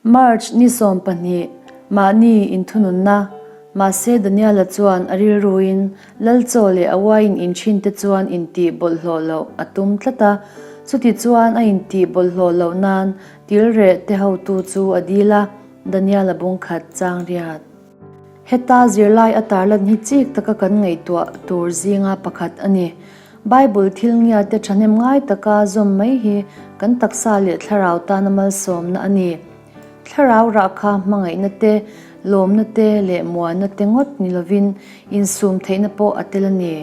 March ni sawm pahnih, mahni inthununna, mahse Daniela chuan a rilruin Lalchaw leh a uaiin inchhinte chuan intih bawlhhlawh loh a tum tlat a, chuti chuan a intih bawlhhlawh loh nan tilreh te hotu chu a dil a, Daniela bungkhat changriat. Heta zirlai a tarlan hi chik taka kan ngaihtuah tur zinga pakhat a ni. Bible thil ngia te thahnem ngai taka zawm mai hi kan taksa leh thlarau tana malsawmna a ni. Thlarau rah kha hmangaihna te, lawmna te leh muanna te ngawt ni lovin insum theihna pawh a tel a ni.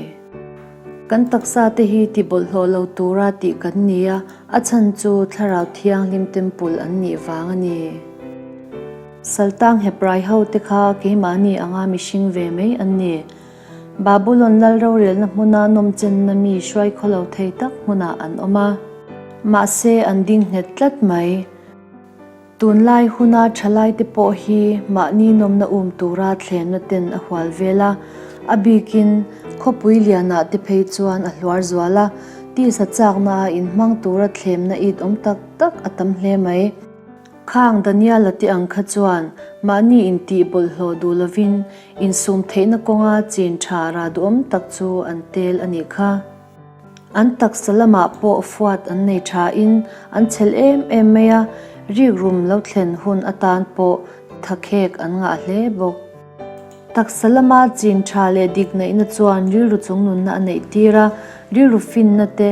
Kan taksa te hi tibawlhhlawh lo tura tih kan ni a, a chhan chu thlarau thianghlim temple an nih vang a ni. Saltang Heprai hote kha keimahni anga mihring ve mai an ni. Babulon lal rorelna hmuna nawmchenna mi hruai khaw lo thei tak hmunah an awm a. Mahse, an ding nghet tlat mai. Tunlai huna thalaite pawh hi mahni nawmna um tura thlenna ten a hual vel a. A bikin khawpui liana te phei chuan a hluar zual a. Tisa chakna a inhmang tura thlemna it awm tak tak a tam hle mai. Khang Daniala te ang kha chuan mahni intih bawlhhlawh duh lovin insum theihna kawnga chin tha rah duhawm tak chu an tel a nih kha. An taksa lamah pawh fuat an nei thain an chhelh em em mai a, rik rum lo thlen hun atan pawh thakhek an ngah hle bawk. Taksa lama chin tha leh dik neihna chuan rilru chung nunna a neih tir a. Rilru finna te,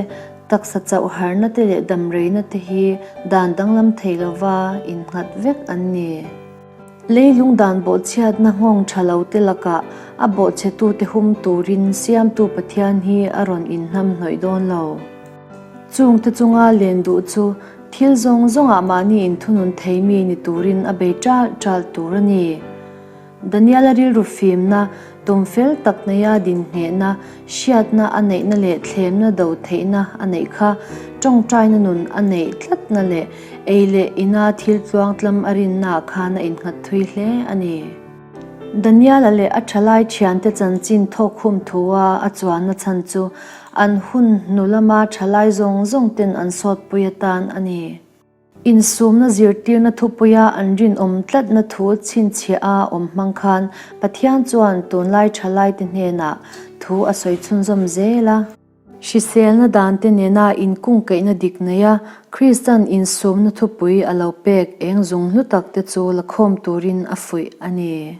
taksa chauh harna te leh dam reina te hi dan danglam thei lova innghat vek an ni. Leilung dan bawhchhiatna nghawng tha lo te lakah a bawhchhetute hum turin Siamtu Pathian hi a rawn inhnam hnawih dawn lo. Chung te chunga len duh chu thil zawng zawngah mahni in thunun thei mi ni turin a bei ṭal ṭal tur a ni. Daniela rilru fimna, tumfel tak neia dinhnehna, hriatna a neihna leh thlemna do theihna a neih kha, ṭawngṭaina nun a neih tlatna leh ei leh ina thil tluang tlam a rinna ah khan a innghat thui hle a ni. Daniela leh a ṭhalai ṭhiante chanchin thawkhum thu a a chuanna chhan chu An hun hnu lama thalai zawng zawng ten an sawtpui atan a ni. Insumna zirtirna thupuia an rinawm tlatna thu chhinchhiah a awm hmang khan Pathian chuan tunlai thalaite hnenah thu a sawi chhunzawm zel a. Hriselna dante nena inkungkaihna dik neia Kristian insumna thupui a lo pek eng zung hlutak te chu lakhawm turin a fuih a ni.